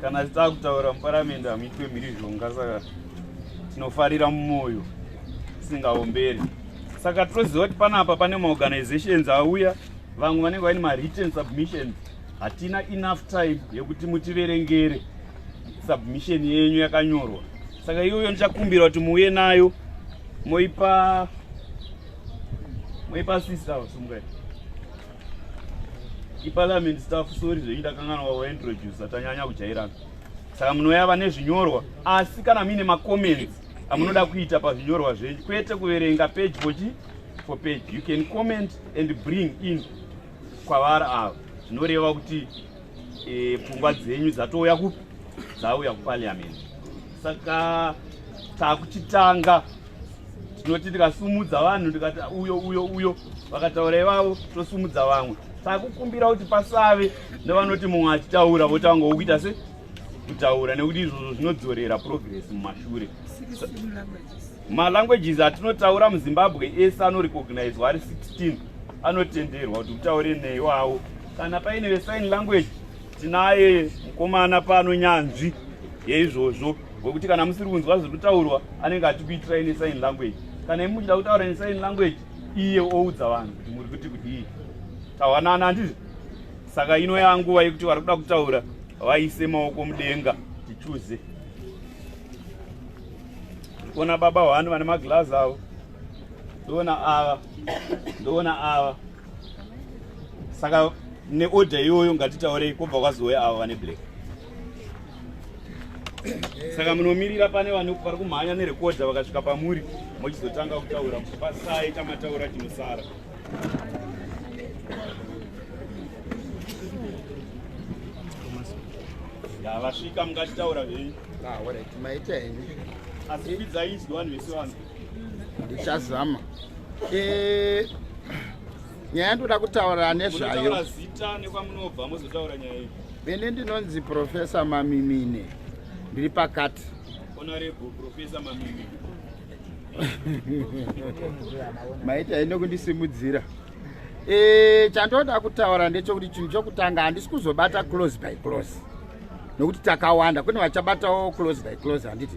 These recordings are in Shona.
kana takutaura muparamende hamuitwe mhirizhonga saka tinofarira mumwoyo tisingaomberi saka tinoziva kuti panapa pane maorganizations auya vamwe vanenge vaine mawritten submissions hatina enough time yekuti mutiverengere submission yenyu yakanyorwa saka iyoyo ndichakumbira kuti muuye nayo moipa moipa sister sumukati iparliament staff sori zvenyu ndakangana wawaintroducer tanyanya kujairana saka munoya vane zvinyorwa asi kana muine macomments amunoda kuita pazvinyorwa zvenyu kwete kuverenga page fochi for page you can comment and bring in kwavari ava zvinoreva kuti e, pfungwa dzenyu dzatouya kupi dzauya kuparliament saka takuchitanga tinoti tikasumudza vanhu tikati uyo uyo uyo vakataura ivavo tosumudza vamwe saka kukumbira kuti pasave nevanoti mumwe achitaura votanga wokuita se kutaura nekuti izvozvo zvinodzorera progress mumashure malanguages atinotaura muzimbabwe ese anorecognizwa ari 16 anotenderwa kuti utaure neiwawo kana paine vesign language Tinaye mukomana pano nyanzvi yeizvozvo wekuti kana musiri kunzwa zviri kutaurwa anenge atikuitirai nesign language kana imi muchida kutaura nesign language iye oudza vanhu kuti muri kuti kudii tawanana handizvo saka ino yanguva yekuti vari kuda kutaura vaise maoko mudenga tichuze ndikuona baba hwani vane maglazi avo ndoona ava ndoona ava saka neorder iyoyo ngatitaurei kobva kwazowe avo vane black saka munomirira pane vane vari kumhanya nerekodha vakasvika pamuri mochizotanga kutaura pasai tamataura chinosara vasvika mungachitaura zvenyu ah, asi kwidzai izwi vanhu vese vanhu ndichazama eh, nyaya yandoda kutaura nezvayo ini ndinonzi profesa mamimine ndiri pakati maita ine kundisimudzira e, chandoda kutaura ndechokuti chinhu chokutanga handisi kuzobata close by close nokuti takawanda kune vachabatawo close by close handiti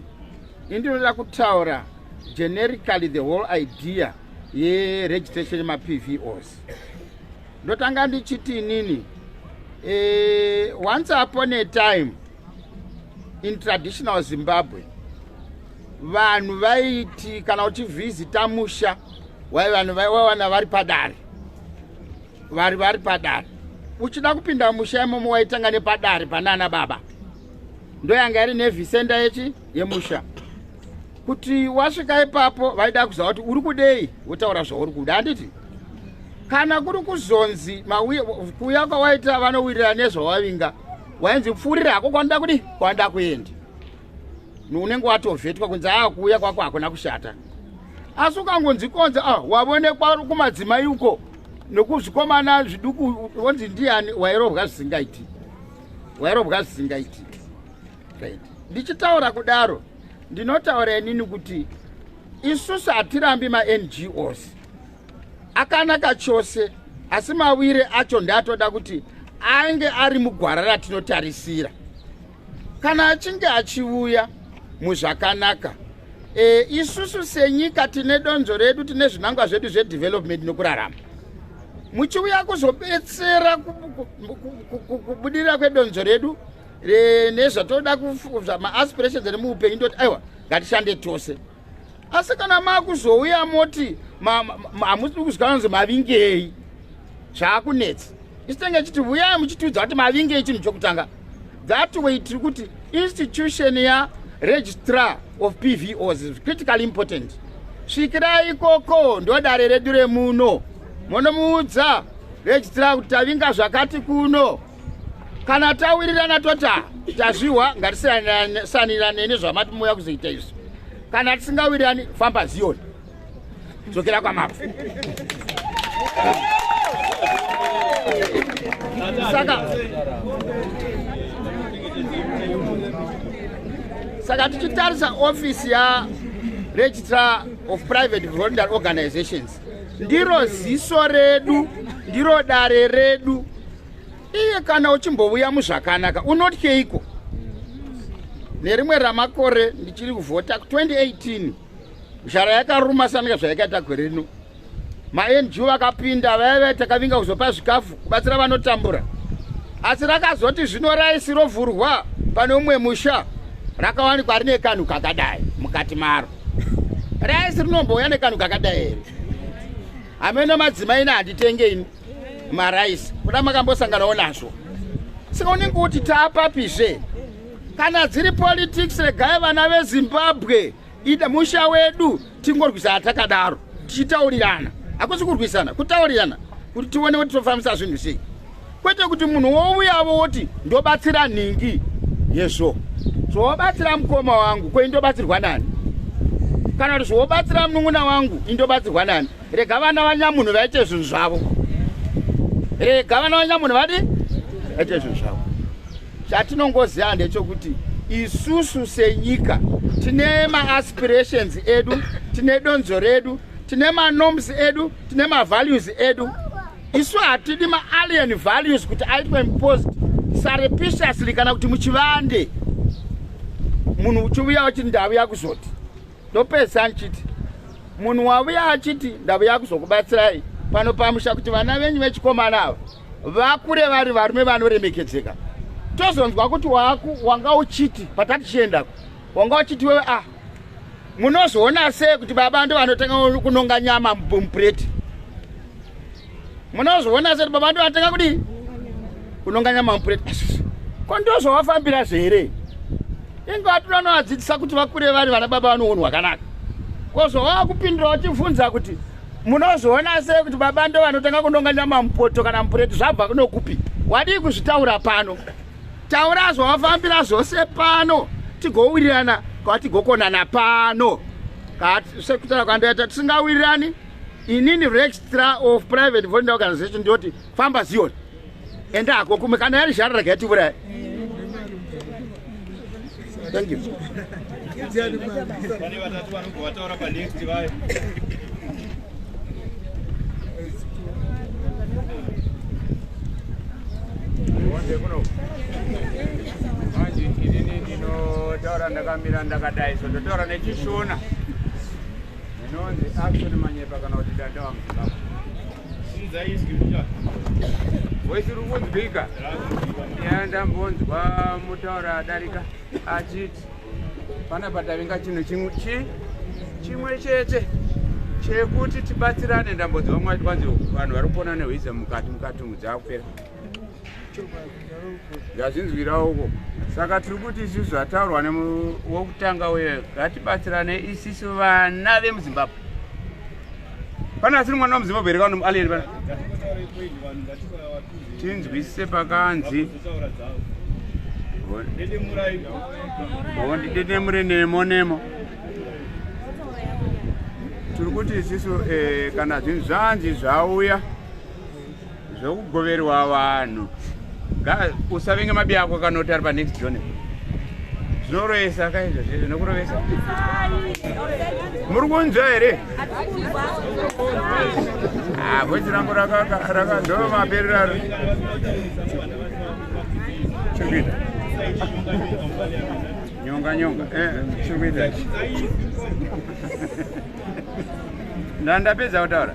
ini ndinoda kutaura generically the whole idea yeregistration yemapvos ndotanga ndichiti inini e, once upon a time in traditional zimbabwe vanhu vaiti kana uchivhizita musha wai vanhu vaiwawana vari padare vari vari padare uchida kupinda musha imomo waitanga nepadare panana baba ndoyanga iri nevhisenda yechi yemusha kuti wasvika ipapo vaida kuziva kuti uri kudei wotaura zvauri kuda handiti kana kuri kuzonzi kuuya kwawaita vanowirira nezvawavinga wainzi pfuurira hako kwanoda kudi kwanoda kuenda unenge watovhetwa kunzi aa kuuya kwako hakuna kushata asi ukangonzi konzi a ah, wavonekwa kumadzimai uko nokuzvikomana zviduku wonzi ndiyani wairovwa zvisingaiti wairovwa zvisingaiti right. ndichitaura kudaro ndinotaura inini kuti isusu hatirambi mangos akanaka chose asi mawire acho ndatoda kuti ange ari mugwara ratinotarisira kana achinge achiuya muzvakanaka e, isusu senyika tine donzvo redu tine zvinangwa zvedu zvedevelopment nokurarama muchiuya kuzobetsera kubudirira kwedonzvo redu eh, nezvatoda maaspirations ane muupenyu ndoti aiwa ngatishande tose asi kana makuzouya moti hamusi kuzwa anonzi mavingei zvaakunetsa isitenge chiti vuyai muchitiudza kuti mavingei chinhu chokutanga that way tiri kuti institution ya registrar of pvos is critically important svikirai ikoko ndodare redu remuno monomuudza registrar kuti tavinga zvakati kuno kana tawirirana tota tazvihwa ngatisanirane nezvamati mouya kuzoita izvi kana tisingawirirani famba ziyoni dzokera kwamabvu saka saka tichitarisa ofisi yaregistrar of private voluntary organizations ndiro ziso redu ndiro dare redu iye kana uchimbovuya muzvakanaka unotyeiko nerimwe ramakore ndichiri kuvhota 2018 zhara yakaruma sanika zvayakaita gore rino mangu vakapinda vaive takavinga kuzopa zvikafu kubatsira vanotambura asi rakazoti zvino raisi rovhurwa pane umwe musha rakawanikwa rine kanhu kakadai mukati maro raisi rinombouya nekanhu kakadai here hameno madzimai ne handitenge ini maraisi kuda makambosanganawo nazvo saka unenge uti taapapizve kana dziri politics regai vana vezimbabwe ida musha wedu tingorwisana takadaro tichitaurirana hakusi kurwisana kutaurirana kuti tione kuti tofambisa zvinhu sei kwete kuti munhu wouyavo woti ndobatsira nhingi yezvo zvobatsira mukoma wangu ko indobatsirwa nani kana kuti zvobatsira munun'una wangu indobatsirwa nani rega vana vanyamunhu vaite zvinhu zvavo rega vana vanyamunhu vadi vaite zvinhu zvavo chatinongoziva ndechokuti isusu senyika tine maaspirations edu tine donzo redu tine manorms edu tine mavalues edu isu hatidi maalien values kuti aitwe imposed sarepiciously kana kuti muchivande munhu uchiuya uchiti ndavuya kuzoti ndopedzisa ndichiti munhu wavuya achiti ndavuya kuzokubatsirai pano pamusha kuti vana venyu vechikomana ava vakure vari varume vanoremekedzeka tozonzwa kuti waku wanga uchiti patatichiendako wanga uchiti wewe ah munozoona sei kuti baba ndo vanotanga kunonga nyama mupureti munozviona seti baba ndovatanga kudii kunonganya mampureti ko ndozvovafambira zvere inge vatira anovadzidzisa kuti vakure vari vana baba vanounhu hwakanaka ko zvovava kupindira vachibvunza kuti munozviona sei kuti baba ndo vanotanga kunonganya mamupoto kana mupureti zvabva kunokupi wadii kuzvitaura pano taura zvovafambira zvose pano tigowirirana kwatigokonana pano sekutara kwandoita tisingawirirani inini registrar of private volunteer organization ndoti famba zion enda hako kumwe kana yari zhara rega yatiuraya thank you manje inini ndinotaura ndakamira ndakadai so ndotaura nechishona Inonzi action manyepa kana kuti danda wa muzimbabwe. Sinza izwi mucha. Voice iri kunzwika. Yeah, ndambonzwa mutaura adarika achiti pana patavinga chinhu chimwe chi chimwe chete chekuti tibatsirane ndambonzwa mwati kwanzi vanhu vari kupona nehwiza mukati mukati mudzi akupera ndazvinzwirawo uko saka tiri kuti isu zvataurwa wokutanga uye ngatibatsirane isisu vana vemuzimbabwe pane asiri mwana wemuzimbabwe here kana mualien pana tinzwisise pakanzi hondidenemure nemo nemo tiri kuti isisu eh, kana zvinhu zvanzi zvauya zvekugoverwa vanhu usavenge mabi ako kanoti ari panext john zvinoroyesa kaizvo zvezvo nokurovesa muri kunzwa here ah, voice rangu rakadhova mapereraro chikuita nyonga nyonga eh, chikuita ndandapedza kutaura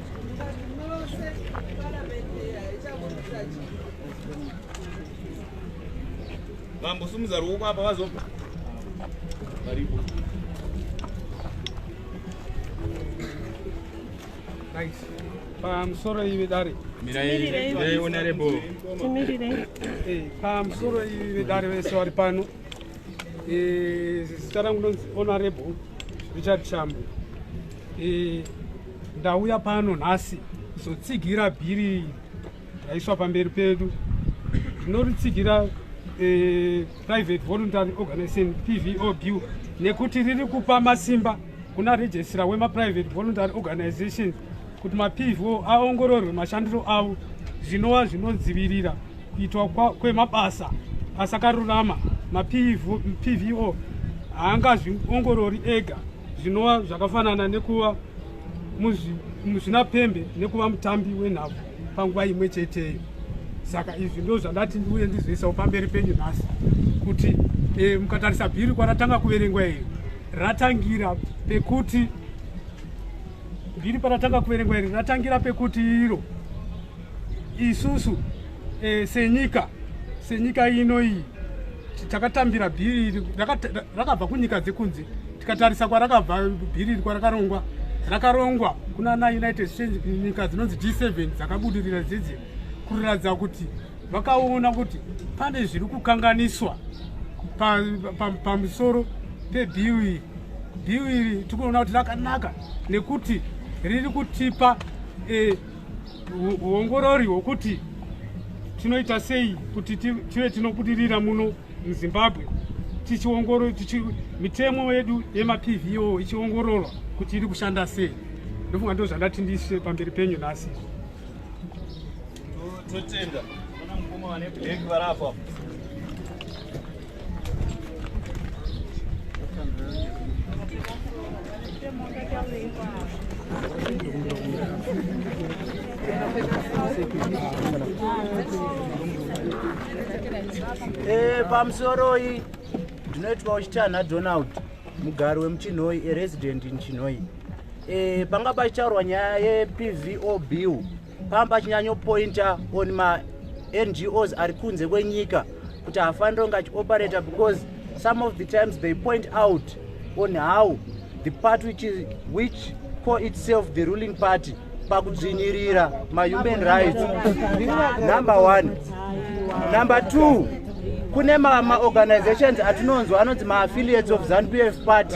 vambosumudza ruoko apa vazobva varipo pamusoro ivi dare pamusoro ivi vedare vese vari pano zita rangu nonzi onarable richard chambo Ndauya pano nhasi kuzotsigira bhiri raiswa pamberi pedu tinoritsigira eh, private voluntary organization pvob nekuti riri kupa masimba kuna registra wemaprivate voluntary organization kuti mapvo aongororwe mashandiro avo zvinova zvinodzivirira kuitwa kwemabasa asakarurama mapvo haangazviongorori ega zvinova zvakafanana nekuva muzvinapembe nekuva mutambi wenhabvu panguva imwe cheteyo saka izvi ndo zvandati ndiuye ndizoisawo pamberi penyu nhasi kuti e, mukatarisa bhiri kwaratanga kuverengwa iri ratangira pekuti bhiri paratanga kuverengwa iri ratangira pekuti iro isusu e, senyika senyika ino iyi takatambira bhiri iri rakabva kunyika dzekunze tikatarisa kwarakabva bhiri iri kwarakarongwa rakarongwa kuna na united states nyika dzinonzi g7 dzakabudirira dzidzi kuratidza kuti vakaona kuti pane zviri kukanganiswa pamusoro pebhiu iri bhiu iri tikuona kuti rakanaka nekuti riri kutipa eh, huongorori hwokuti tinoita sei kuti tive tinobudirira muno muzimbabwe tichiongorora tichi mitemo yedu yemapvo ichiongororwa kuti iri kushanda sei ndofunga ndo zvandati ndiise pamberi penyu nhasi totenda ana mukoma vane black varapo Eh, pamusoroi ndinoitwa uchitanha donald mugari wemuchinhoi aresident in chinhoi e, panga pachitaurwa nyaya yepvo bill pamba achinyanyopointa on mangos ari kunze kwenyika kuti hafanire kunge achioperator because some of the times they point out on how the part which, is, which call itself the ruling party pakudzvinyirira mahuman rights number one number two kune maorganizations atinonzwa anonzi maaffiliates of zanu pf party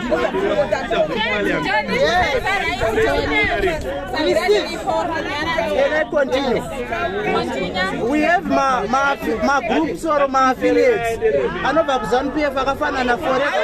magroups or maaffiliates anobva kuzanu pf akafanana forever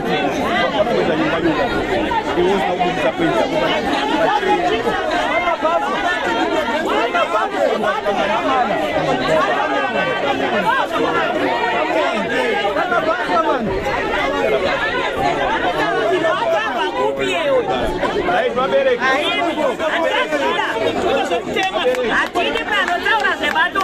Atende pano taura zvebato.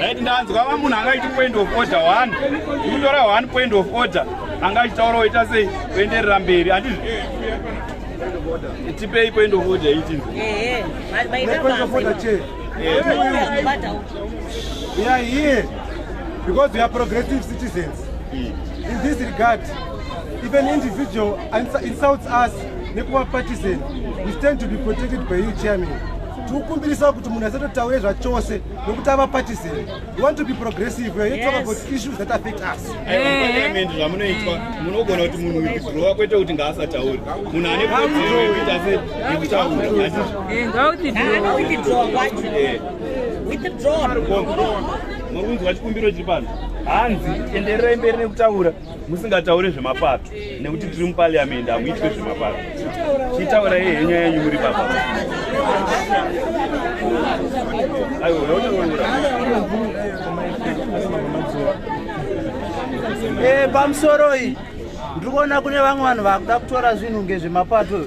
right ndanzwa va munhu angaiti point of order one ikutora one point of order anga achitaura oita sei kuenderera mberi andizvo tipei point of order itinzi we are here because we are progressive citizens in this regard if an individual insults us nekuva partisan we stand to be protected by you chairman tikukumbirisa kuti munhu asatotaure zvachose nokuti ava partisan we want to be progressive we are here yes. talk about issues that affect us parliament zvamunoitwa munogona kuti munhu withdrawa kwete kuti ngaasatauri munhu ane kodzero yekuti ase yekutaura makunzi wachikumbiro chiri pano hanzi endererai mberi nekutaura musingataure zvemapato nekuti tiri mupariamendi hamuitwe zvemapato chitaura ye henya yenyu muri baba eh, pamusoroi ndiri kuona kune vamwe vanhu vakuda kutora zvinhu ngezvemapato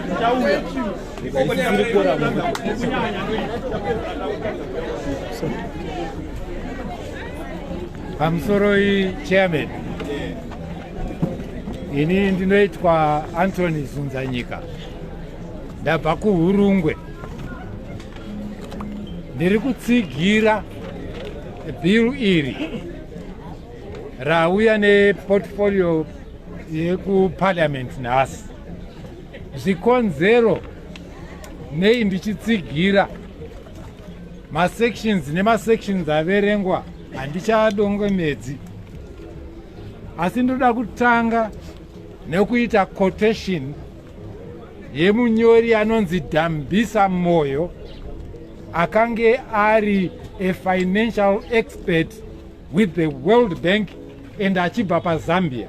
pamusoroi chairman ini ndinoitwa antony zunzanyika ndabva kuhurungwe ndiri kutsigira bill iri rauya neportfolio yekuparliament nhasi zvikonzero nei ndichitsigira masections nemasections averengwa handichadongemedzi asi ndoda kutanga nekuita quotation yemunyori anonzi dambisa moyo akange ari a financial expert with the world bank and achibva pazambia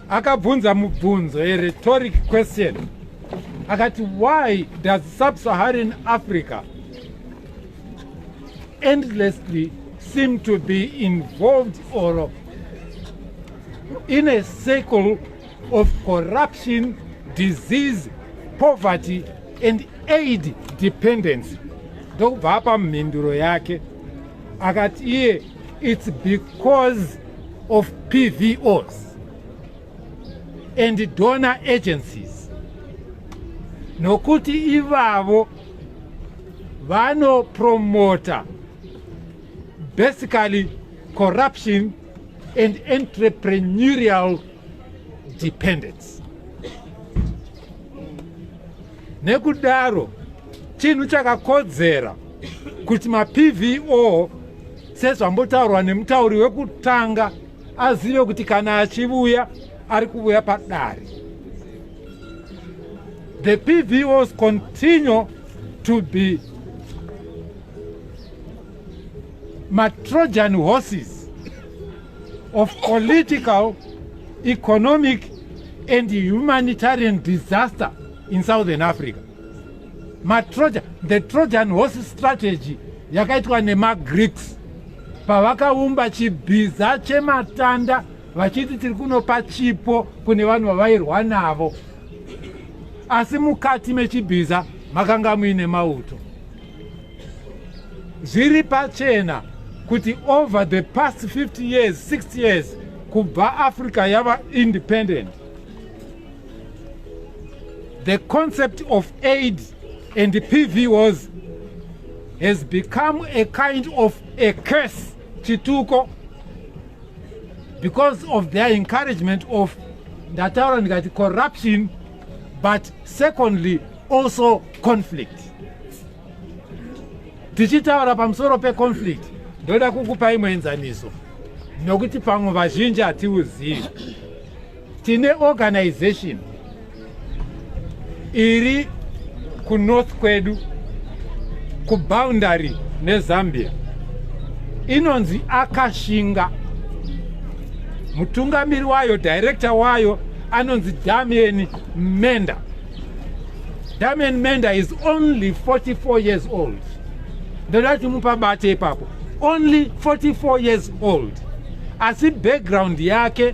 akabvunza mubvunzo a rhetoric question akati why does sub-saharan africa endlessly seem to be involved or in a circle of corruption disease poverty and aid dependency ndokubva apa mhinduro yake akati iye it's because of pvos and donor agencies nokuti ivavo vanopromota basically corruption and entrepreneurial dependence nekudaro Chinhu chakakodzera kuti maPVO sezvambotaurwa nemutauri wekutanga azive kuti kana achivuya ari kuvuya padare. The PVOs continue to be matrojan horses of political, economic and humanitarian disaster in Southern Africa. matroja the trojan horse strategy yakaitwa nemagreeks pavakaumba chibhiza chematanda vachiti tiri kunopa chipo kune vanhu vavairwa navo asi mukati mechibhiza makanga muine mauto zviri pachena kuti over the past 50 years 6 years kubva africa yava independent The concept of AIDS and PV was has become a kind of a curse chituko because of their encouragement of ndataura ndikati corruption but secondly also conflict tichitaura pamusoro peconflict ndoda kukupa imwe enzaniso nokuti pamwe vazhinji hatiuzivi tine organization iri kunorth kwedu kuboundary nezambia inonzi akashinga mutungamiri wayo director wayo anonzi damian menda damian menda is only 44 years old ndoda kuti mupabate ipapo only 44 years old asi background yake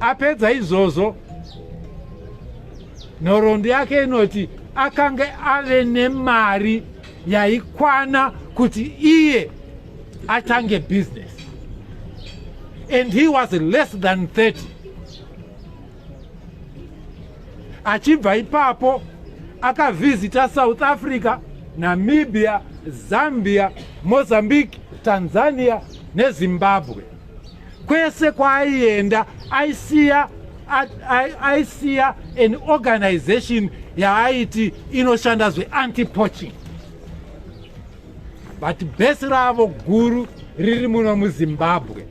Apedza izvozvo, nhoroondo yake inoti akange ave nemari yaikwana kuti iye atange business and he was less than 30 achibva ipapo akavhizita south africa namibia zambia mozambique tanzania nezimbabwe Kwese kwaaienda aisiya aisiya an organization yaaiti inoshanda zveanti poaching but bhesi ravo guru riri muno muzimbabwe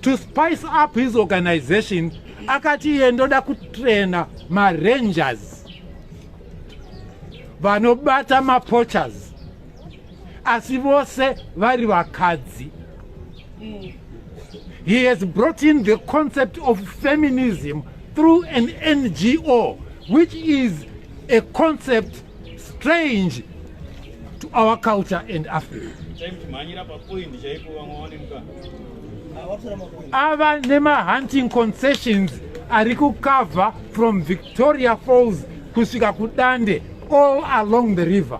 to spice up his organization akati iye ndoda kutraina marangers vanobata mapoachers asi vose vari vakadzi mm. he has brought in the concept of feminism through an ngo which is a concept strange to our culture and africa ava nemahunting concessions ari kukavha from victoria falls kusvika kudande all along the river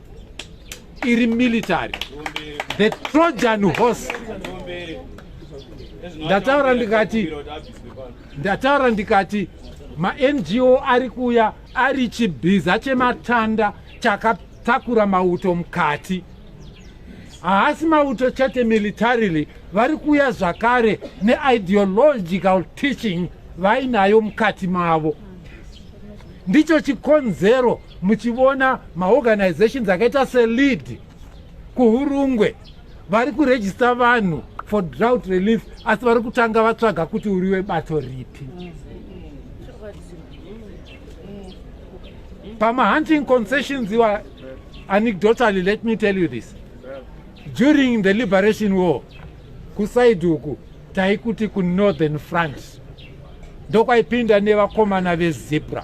iri military the trojan horse ndataura ndikati ndataura ndikati mango ari kuuya ari chibhiza chematanda chakatakura mauto mukati haasi mauto chete militarily vari kuuya zvakare neideological teaching vainayo mukati mavo ndicho chikonzero muchivona maorganizations akaita selead kuhurungwe vari kurejista vanhu for drought relief asi vari kutanga vatsvaga kuti uri webato ripi pamahunting concessions iwa anecdotally let me tell you this during the liberation war kusaidi uku taikuti kunorthern france ndokwaipinda nevakomana vezebra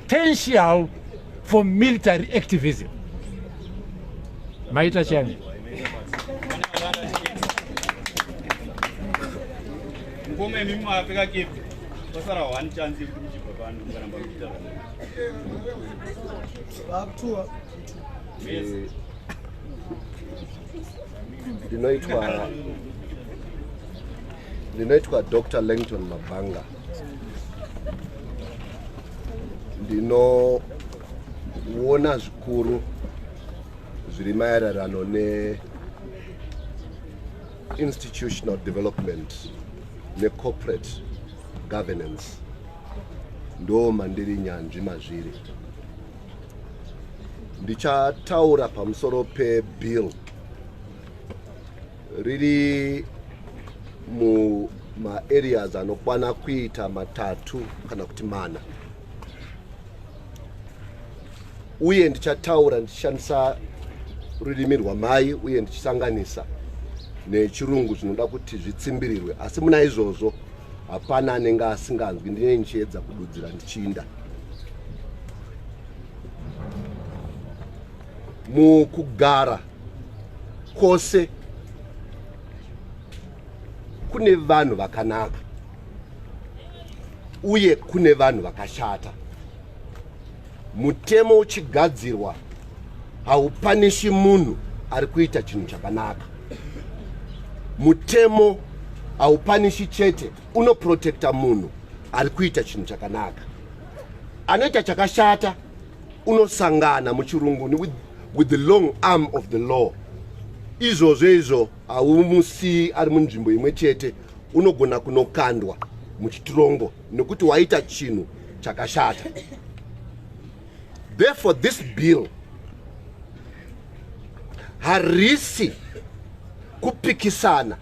potential for military activism maita chani ndinoitwa ndinoitwa dr langton mabhanga ndinoona zvikuru zviri maererano neinstitutional development necorporate governance ndo mandiri nyanzvi mazviri ndichataura pamusoro pebill riri mumaareas anokwana kuita matatu kana kuti mana uye ndichataura ndichishandisa rurimi rwamai uye ndichisanganisa nechirungu zvinoda kuti zvitsimbirirwe asi muna izvozvo hapana anenge asinganzwi ndine ndichiedza kududzira ndichiinda mukugara kwose kune vanhu vakanaka uye kune vanhu vakashata mutemo uchigadzirwa haupanishi munhu ari kuita chinhu chakanaka mutemo haupanishi chete unoprotekta munhu ari kuita chinhu chakanaka anoita chakashata unosangana muchirunguni with, with the long arm of the law izvozvo izvo haumusi ari munzvimbo imwe chete unogona kunokandwa muchitirongo nekuti waita chinhu chakashata therefore this bill harisi kupikisana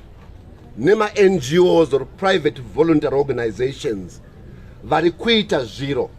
nemangos or private voluntary organizations vari kuita zviro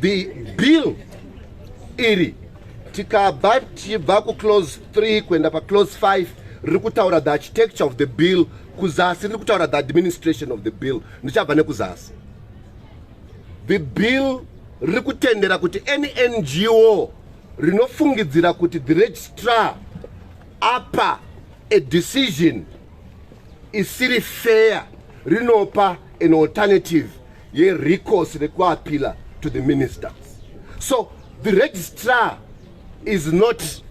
the bill iri tikabva tichibva kuclose 3 kuenda paclose 5 riri kutaura the architecture of the bill kuzasi riri kutaura the administration of the bill ndichabva nekuzasi the bill riri kutendera kuti any ngo rinofungidzira kuti the registrar apa a decision isiri fair rinopa an alternative yerecourse rekuappeala to the minister so the registrar is not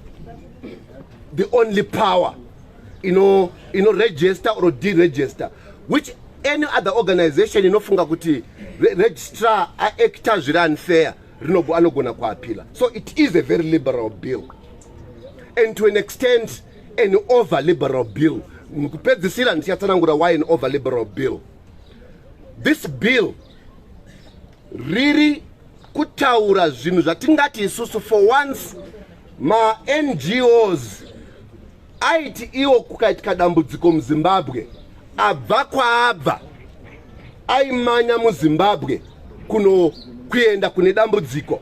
the only power ino ino register or deregister which any other organization inofunga kuti re registrar aacta zviri unfair anogona kuappeala so it is a very liberal bill and to an extent an over liberal bill kupedzisira ndichatsanangura why an over liberal bill this bill riri kutaura zvinhu zvatingati isusu for once mangos aiti iwo kukaitika dambudziko muzimbabwe abva kwaabva aimanya muzimbabwe kuno kuenda kune dambudziko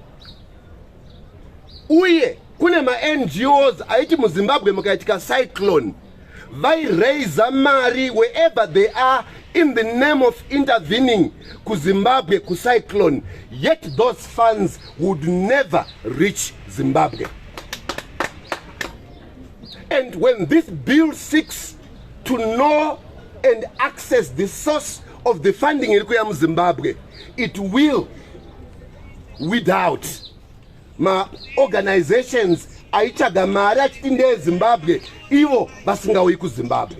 uye kune maNGOs aiti muZimbabwe mukaitika cyclone vairaiser mari wherever they are in the name of intervening kuZimbabwe kucyclone yet those funds would never reach Zimbabwe and when this bill seeks to know and access the source of the funding iri kuya muzimbabwe it will without maorganizations aitsvaga mari achiti ndeezimbabwe ivo vasingauyi kuzimbabwe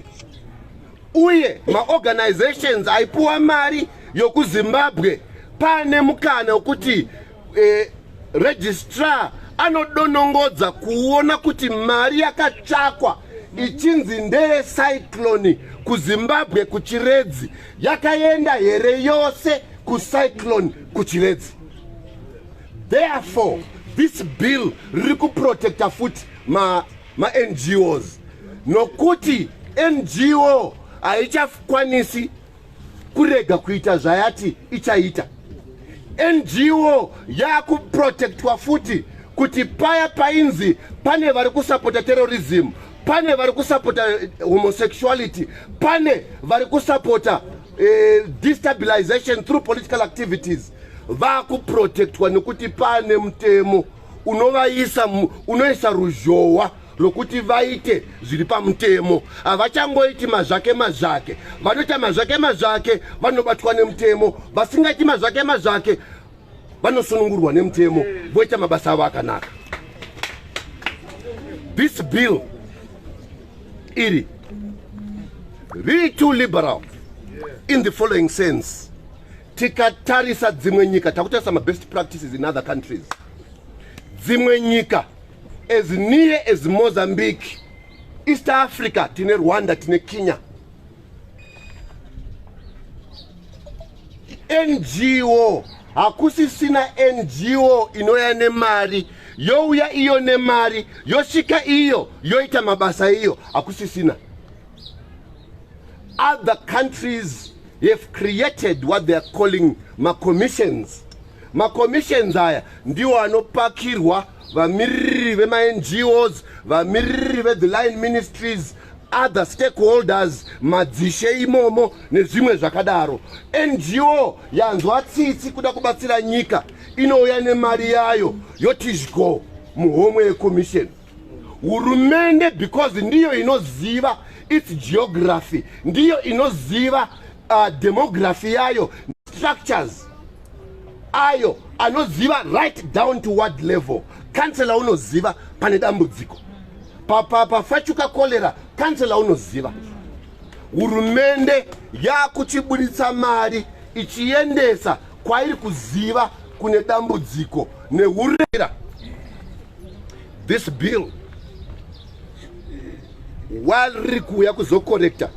uye maorganizations aipuwa mari yokuzimbabwe pane mukana wekuti eh, registrar anodonongodza kuona kuti mari yakatsvakwa ichinzi ndeye cyclone kuzimbabwe kuchiredzi yakaenda here yose kucyclone kuchiredzi Therefore, this bill riri kuprotecta futi mango's nokuti ngo haichakwanisi kurega kuita zvayati ichaita ngo yaakuprotectwa futi kuti paya painzi pane vari kusapota terrorism pane vari kusapota eh, homosexuality pane vari kusapota eh, destabilization through political activities vakuprotectwa nekuti pane mutemo unovaisa unoisa ruzhowa rwokuti vaite zviri pamutemo havachangoiti mazvake mazvake vanoita mazvake mazvake vanobatwa nemutemo vasingaiti mazvake mazvake vanosunungurwa nemutemo voita mabasa avo akanaka this bill iri riri too liberal in the following sense tikatarisa dzimwe nyika takutarisa mabest practices in other countries dzimwe nyika as near as mozambique east africa tine rwanda tine kenya ngo hakusisina ngo inouya nemari youya iyo nemari yosvika iyo yoita mabasa iyo hakusisina other countries have created what they are calling macommissions macommissions aya ndiwo anopakirwa vamiriri vemangos vamiriri vethe line ministries other stakeholders madzishe imomo nezvimwe zvakadaro ngo yanzwa tsitsi kuda kubatsira nyika inouya nemari yayo yoti zhgo muhomwe yecommission hurumende because ndiyo inoziva its geography ndiyo inoziva uh, demography yayo structures ayo anoziva right down to word level kansela unoziva pane dambudziko pafachuka kolera kansela unoziva hurumende yakuchiburitsa mari ichiendesa kwairi kuziva kune dambudziko nehurera this bill while riri kuuya kuzokorekta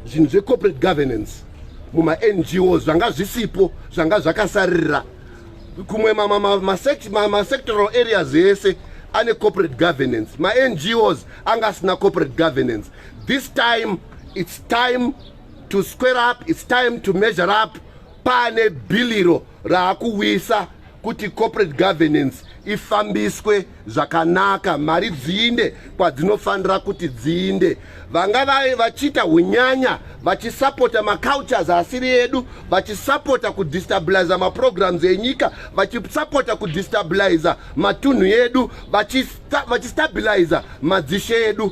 zvinhu zvecorporate governance mumango zvanga zvisipo zvanga zvakasaririra kumwe masectoral areas ese ane corporate governance mangos anga asina corporate governance this time its time to square up its time to measure up pane bhiliro raakuwisa kuti corporate governance ifambiswe zvakanaka mari dziinde kwadzinofanira kuti dziinde vanga vaye vachiita unyanya vachisapota macultures asiri edu vachisapota kudistabiliza maprograms enyika vachisapota kudistabiliza matunhu edu vachistabiliza madzishe edu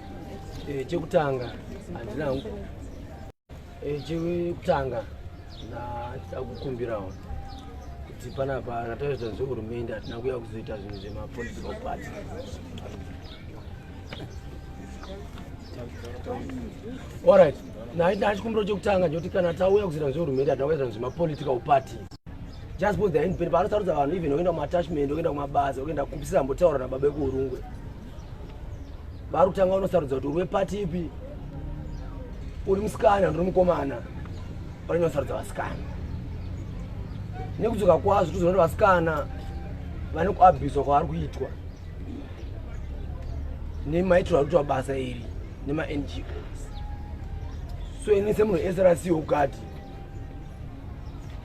Eh, chekutanga handina eh, chekutanga ndachida kukumbirawo kuti panapa kataita zvehurumende hatina kuya kuzoita zvinhu zvemapolitical party orit ndachikumbiro chekutanga ndikuti kana tauya kuzoita zvehurumende hatina kuya zvinhu zvemapolitical party just bcause they're in panosarudza vanhu even okuenda kumatachment okuenda kumabasa okuenda kupisira mbotaura nababa ekuurungwe vari kutanga unosarudza kuti uri wepati ipi uri musikana ndiri mukomana vanenge vasarudza vasikana nekudzoka kwazvo tozoona kuti vasikana vane kuabhizwa kwavari kuitwa nemaitirwo ari kuitwa basa iri nemangos so ini semunhu esrc ukati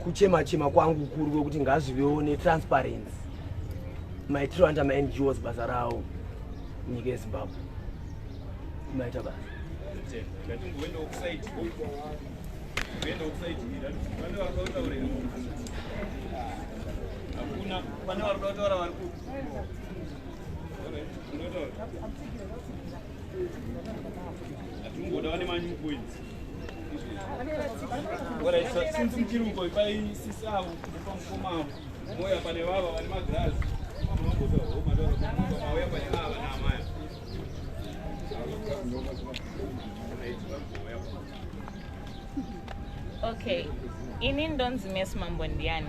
kuchema chema kwangu kuri kwekuti ngazvivewo netransparency maitiro anda maNGOs basa rawo nyika yeZimbabwe maita basa hakuna pane vari kuda kutaura vari kupi hatingoda vane manyu points Agora, se não sentir um boi, vai se salvo, vamos fumar. Moya pane baba vane magirazi. Mauya pane baba naamaya. Okay. Ini ndonzi Miss Mambo ndiani?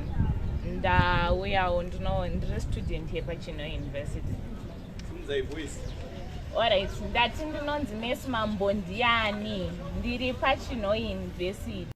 Ndauyawo ndino ndiri student here pachino university. Sinzai voice. Alright, ndati ndinonzi Miss Mambo ndiani? Ndiri pachino university.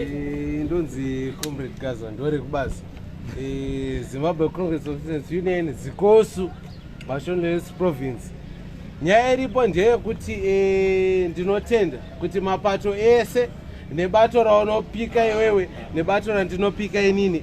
Eh, ndonzi comrade gaza ndore kubazi eh, zimbabwe congress of citizens union zikosu mashones province nyaya iripo ndeyekuti eh, ndinotenda kuti mapato ese nebato raunopika iwewe nebato randinopika inini